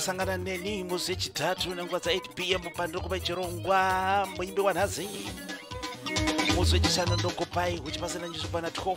kusangana neni musi wechitatu nenguva dza 8 pm pandiri kupa chirongwa muimbi wanhazi musi wechishanu ndokupai uchipasana nyuzi kwana 12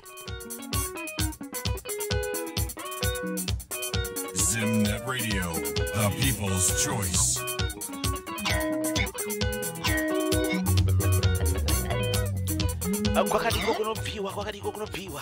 Zimnet Radio, the people's choice. kwakadiko kunobviwa kwakadiko kunobviwa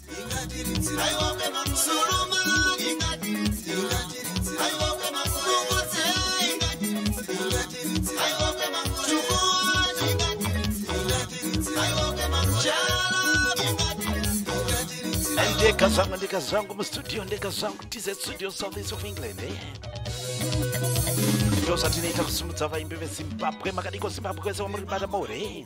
ndeka zvangu ndeka zvangu mustudio ndeka zvangu tz studio south east of england eh? ndozvatinoita kusimudza vaimbi vezimbabwe makadiko zimbabwe kwese wamuri bata more eh?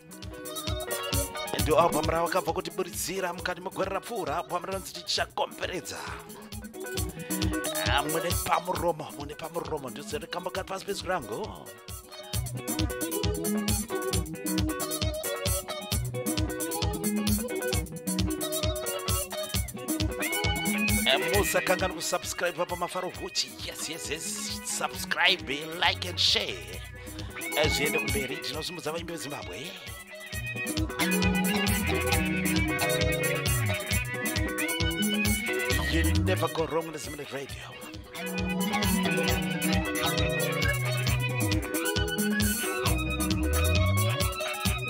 ndo album ravakabva kutiburidzira mukati megore rapfuura album rinonzi tichakomberedza ah, mune pamuromo mune pamuromo ndozorikambokati pasi pezwi rangu musakanganwa kusubscribe pamafaro huchi yes yes yes subscribe like and share eh, zviende kumberi tinosimbudza vaimbi vezimbabwe you never go wrong with the radio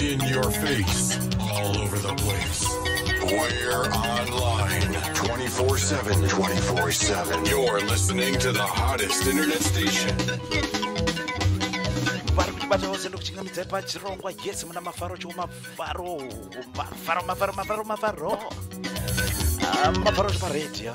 In your face, all over the place. We're online 24 7. 24 7. You're listening to the hottest internet station. vari kuti bata vose ndokuchingamidzai pachirongwa yes muna mafaro chiwo mafaro mafaro mafaro mafaro mafaro Ah, mafaro chiparedhiyo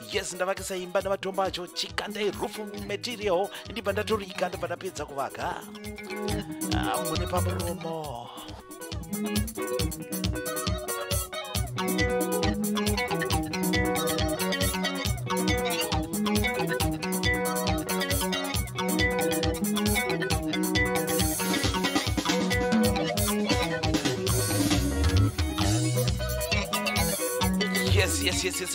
yes ndavakisa imba nematombo acho chikandai roof material ndibva ndatorika ndibva ndapedza kuvaka ah, mune pamuromo yes yes yes yes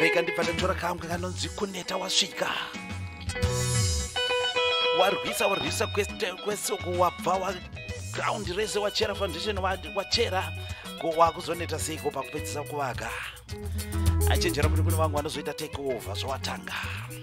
rega ndibva ndanyora kangu kanonzi kuneta wasvika warwisa warwisa kwese uko wabva wagraundi rese wachera foundation wachera ko wakuzoneta seiko pakupedzisa kuvaka achenjera kuti kune vangu vanozoita take over zvawatanga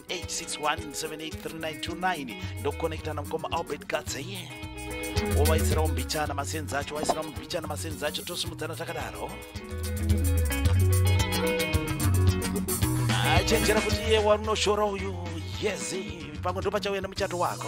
861783929 ndokonekita namukoma albert gatse ye wovaisirawo mbichana masenzi acho waisirawo mbichana masenzi acho tosimudzana takadaro achenjera kuti iye warunoshora uyu yezi pamwe ndopachauya nemuchato wako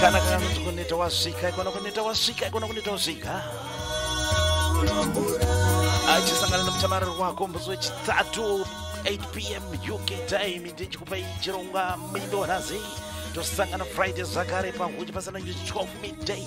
kana kana kuti kuneta wasvika ikona kuneta wasvika ikona kuneta wasvika achisangana nemutamariro wako musi wechitatu 8 pm uk time ndichikupa ichirongwa mindo nhasi tosangana friday zvakare pahuti pasana 12 midday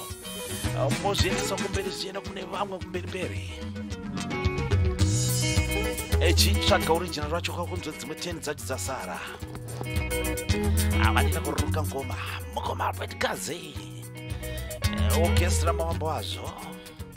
mozviendesa kumberi zvichienda kune vamwe kumberi mberi echitsvaga original racho kakunzwa dzimwe 10 dzacho dzasara avanina kururuka ngoma mukoma albert kazi eh, orchestra mavambo wazvo